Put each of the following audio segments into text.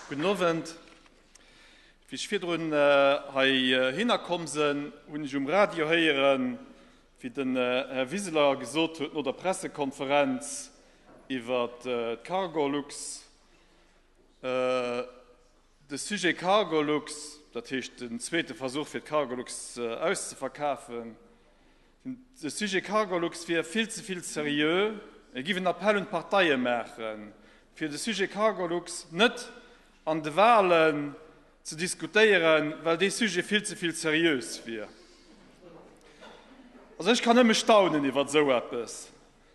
Gudden Owend. Wéi ech virdrun hei hinner komm sen, hun ech um Radio héieren, wéi den Här Wiseler gesot huet no der Pressekonferenz iwwer d'Cargolux, de Sujet Cargolux, dat heescht den zweete Versuch fir d'Cargolux auszeverkafen, De Sujet Cargolux wier vill ze vill seriö. Et géif en Appell un d'Parteie maachen, fir de Sujet Cargolux net an de Walen ze diskutéieren, well dee Sujet vill ze vill seriös wier. Also ech kann nëmme staunen iwwer esou eppes.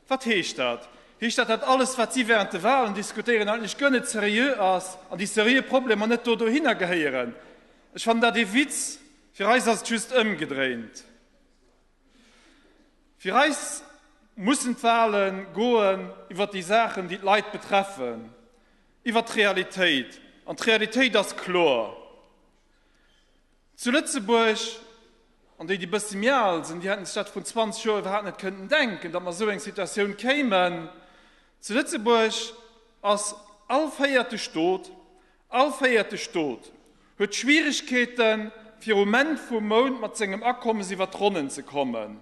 Wat heescht dat? Heescht dat, dat alles, wat si während de Walen diskutéieren, eigentlech guer net seriö ass an déi seriö Problemer net do dohinner gehéieren? Ech fannen dat ee Witz. Fir eis ass et just ëmgedréint. Fir eis mussen d'Wahle goen iwwer déi Saachen, déi d'Leit betreffen, iwwer d'Realitéit. An d'Realitéit ass kloer. Zu Lëtzebuerg, an déi, déi bëssi méi al sinn, déi hätten sech dat vrun 20 Joer iwwerhaapt net kënnten denken, datt mer a esou eng Situatioun kéimen, zu Lëtzebuerg ass all véierteg dout, All véierte Stot huet Schwieregkeeten, virum Enn vum Mount mat sengem Akommes iwwer d'Ronnen ze kommen.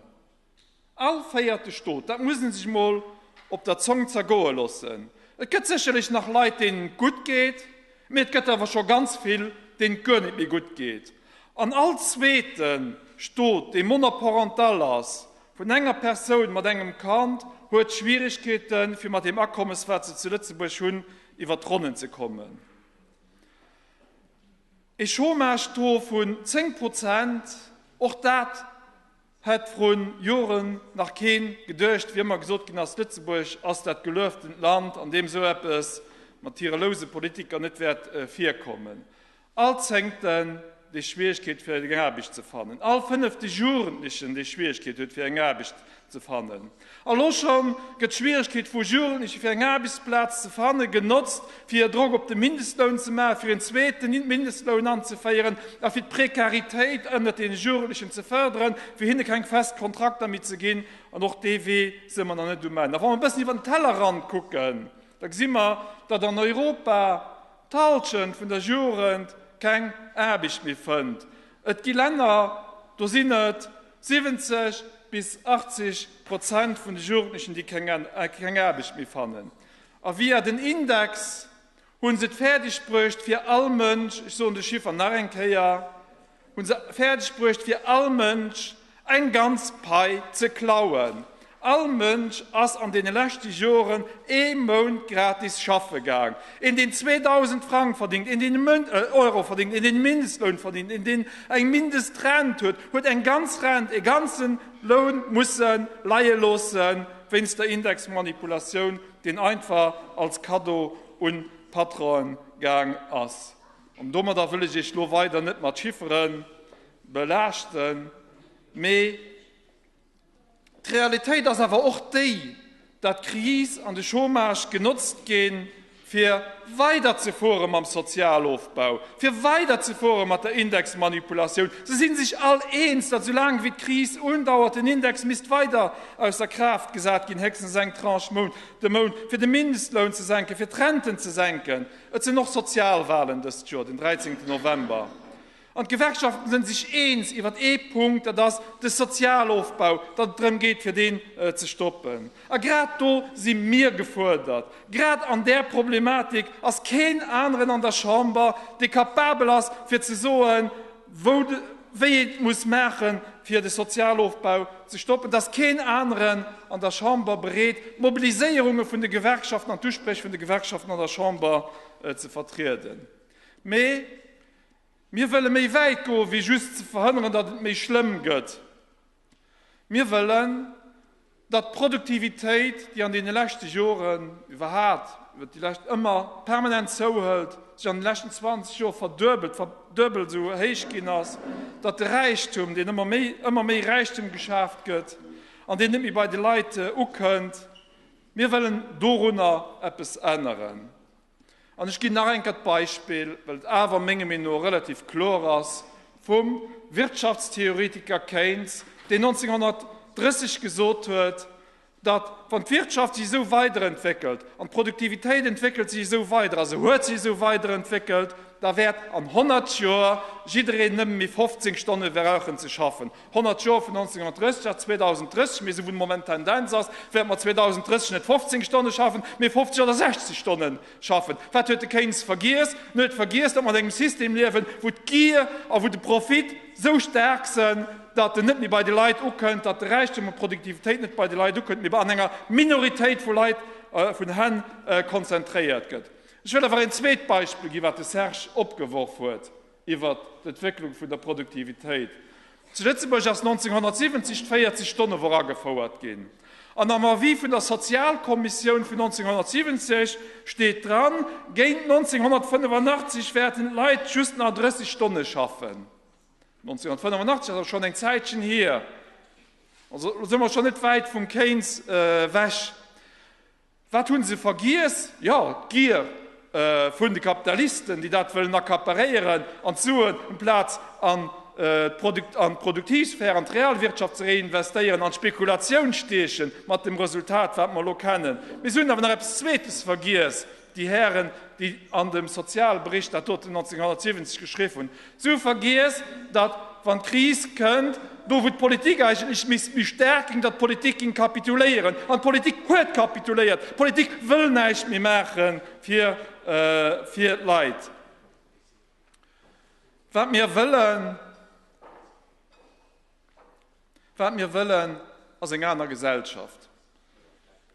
All véierte Stot, dat muss ee sech emol op der Zong zergoe loossen. Et gëtt sécherlech nach Leit, deenen et gutt geet, mee et gëtt awer scho ganz vill, deenen et guer net méi gutt geet. An all zweete Stot, dee monoparental ass, vun enger Persoun mat engem Kand, huet Schwieregkeeten, fir mat deem Akommes, wat se zu Lëtzebuerg hunn, iwwer d'Ronnen ze kommen. E Chômage-Taux vun 10 Prozent, och dat hätt vrun Joren nach keen geduecht, wéi ëmmer gesot ginn ass, Lëtzebuerg ass dat gelueftent Land, an deem esou eppes mat hire louse Politiker net wäert virkommen. All Zéngten, dee Schwieregkeet fir eng Aarbecht ze fannen. All fënnefte Jugendlechen, dee Schwieregkeet huet fir eng Aarbecht ze fannen. Elo schonn gëtt d'Schwieregkeet vu Jugendleche fir eng Aarbechtsplaz ze fanne genotzt, fir hir Drock op de Mindestloun ze maachen, fir een zweeten Mindestloun anzeféieren a fir d'Prekaritéit ënnert deene Jugendlechen ze fërderen, fir hinne keng fest Kontrakter méi ze ginn. An och dee Wee si mer nach net um Enn. A wa mer e bëssen iwwer den Tellerrand kucken, da gesi mer, datt an Europa, d'Halschent vun der Jugend keng Aarbecht méi fënnt. Et gi Länner, do sinn et 70 bis 80 Prozent vun de Jugendlechen, déi keng Aarbecht méi fannen. A via den Index hu se et fäerdeg bruecht, fir all Mënsch, ech soen de Chiffer nach eng Kéier, Hun se färdeg bruecht fir all Mensch eng ganz Pei ze klauen. All Mensch ass an den leschte Joren ee Mount gratis schaffe gaang. Een deen 2000 Frang verdingt, een deen Euro verdingt, een deen Mindestloun verdingt, een deen eng Mindestrent huet, huet eng ganz Rent, ee ganzen Loun musse leie loossen wéinst der Indexmanipulatioun, deen einfach als Cadeau un Patronen gaang ass. An domadder wëll ech Iech elo weider net mat Chiffere belaaschten, mee d'Realitéit ass awer och déi, dat d'Kris an de Chômage genotzt ginn, fir weiderzefuere mam Sozialofbau, fir weiderzefuere mat der Indexmanipulatioun. Se si sech all eens, dat soulaang wéi d'Kris undauert, den Index misst weider ausser Kraaft gesat ginn, héchstens eng Tranche de Mount, fir de Mindestloun ze senken, fir d'Renten ze senken. Et sinn och Sozialwahlen dëst Joer, den 13 November. An d'Gewerkschaften sënn sech eens iwwert ee Punkt, dat ass de Sozialofbau, datt et drëm geet fir deen ze stoppen. A grad do si mir gefuerdert. Grad an där Problematik ass keen aneren an der Chamber, dee kapabel ass fir ze soen, wou de wéi et muss maache fir de Sozialofbau ze stoppen, dass keen aneren an der Chamber bereet d'Mobiliséierunge vun de Gewerkschaften an d'Uspréch vun de Gewerkschaften an der Chamber ze vertrieden. Mee mir wëlle méi wäit goe wéi just ze verhënneren, datt et méi schlëmm gëtt. Mir wëllen, datt d'Produktivitéit, déi an deene leschte Joren, iwwerhaapt iwwert déi lescht, ëmmer permanent zouhëlt, sech an de leschten 20 Joer verduebelt, verduebelt esou héich ginn ass, datt de Räichtum, deen ëmmer méi, ëmmer méi Räichtum geschaaft gëtt an deen net méi bei de Leit ukënnt, mir wëllen dorunner eppes änneren. An ech ginn nach eng Kéier d'Beispill, well et awer menge mir no relativ kloer ass, vum Wirtschaftstheoretiker Keynes, deen 1930 gesot huet, datt, wann d'Wirtschaft sech esou weiderentwéckelt an d'Produktivitéit entwéckelt sech esou weider a se huet sech esou weiderentwéckelt, da wäert an 100 Joer jiddereen nëmme méi 15 Stonne brauchen ze schaffen. 100 Joer vun 1930 a 2030, mee esou wéi de Moment d'Tendenz ass, wäerte mer 2030 net 15 Stonne schaffen, mee 50 oder 60 Stonne schaffen. Wat huet de Keynes vergiess? En huet vergiess, datt mer an engem System liewen, wou d'Gier a wou de Profit esou staark sinn, datt en net méi bei de Leit ukënnt, datt de Räichtum an d'Produktivitéit net bei de Leit ukënnt, mee an enger Minoritéit vu Leit, vun Hänn konzentréiert gëtt. Ech wëll awer een zweet Beispill ginn, wat de Serge opgeworf huet. iwwer d'Entwécklung vun der Produktivitéit. Zu Lëtzebuerg ass 1970 d'véierzeg Stonne Woch agefouert ginn an am Avis vun der Sozialkommissioun vun 1970 steet dran, géint 1985 wäerten d'Leit just nach 30 Stonne schaffen. 1985 ass also schonn eng Zäitchen hier, also elo si mer schonn net wäit vum Keynes ewech. Wat hunn se vergiess? Jo, d'Gier vun de Kapitalisten, déi dat wëllen accaparéieren an d'Suen amplaz an d'Produktivsphär, an d'Realwirtschaft ze reinvestéieren, an d'Spekulatioun stiechen, mat dem Resultat, wat mer elo kennen. Mee se hunn awer nach eppes Zweetes vergiess, déi Hären, déi an dem Sozialbericht dat doten 1970 geschriww hunn, Si vergiess, datt, wann d'Kris kënnt, do wou d'Politik eigentlech misst méi staark ginn, datt d'Politik géing kapituléieren. An d'Politik huet kapituléiert. D'Politik wëll näischt méi maache fir d'Leit. Wat mir wëllen. Wat mir wëllen, ass eng aner Gesellschaft.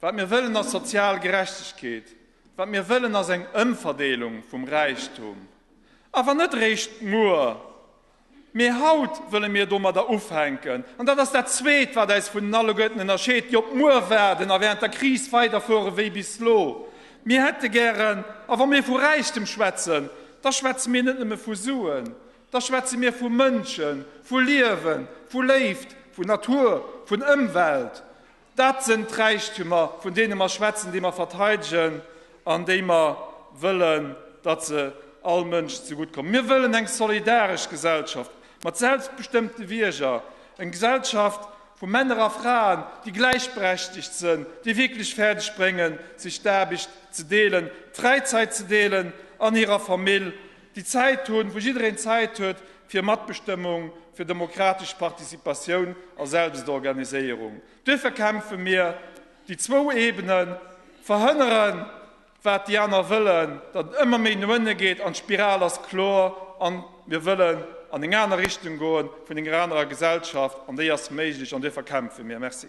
Wat mir wëllen, ass sozial Gerechtegkeet. Wat mir wëllen, ass eng Ëmverdeelung vum Räichtum. Awer net eréischt muer, mee haut wëlle mir domadder ufänken. An dat ass dat Zweet, wat eis vun den Alleguerten ënnerscheet, déi op muer waarden a während der Kris weiderfuere wéi bis elo. Mir hätte gären, a wa mir vu Räichtem schwätzen, da schwätze mir net nëmme vu Suen, Da schwätze mir vu Mënschen, vu Liewen, vu Léift, vun Natur, vun Ëmwelt. Dat sënn d'Räichtemer, vun deene mer schwätzen, déi mer verteidegen an déi mer wëllen, datt se all Mënsch ze gutt kommen. Mir wëllen eng solidaresch Gesellschaft mat selbstbestëmmte Bierger, eng Gesellschaft vu Männer a Fraen, déi gläichberechtigt sënn, déi wierklech fäerdeg bréngen, sech d'Aarbecht ze deelen, d'Fräizäit ze deelen an hirer Famill déi Zäit hunn, wou jiddereen Zäit huet fir Matbestëmmung, fir demokratesch Participatioun a Selbstorganiséierung. Duerfir kämpfe mir déi zwou Ebenen, verhënneren, wat déi aner wëllen, datt et ëmmer méi no ënne geet, an d'Spiral ass kloer, a mir wëllen an eng aner Richtung goen, vun enger anerer Gesellschaft, an déi ass méiglech, an duerfir kämpfe mir. Merci.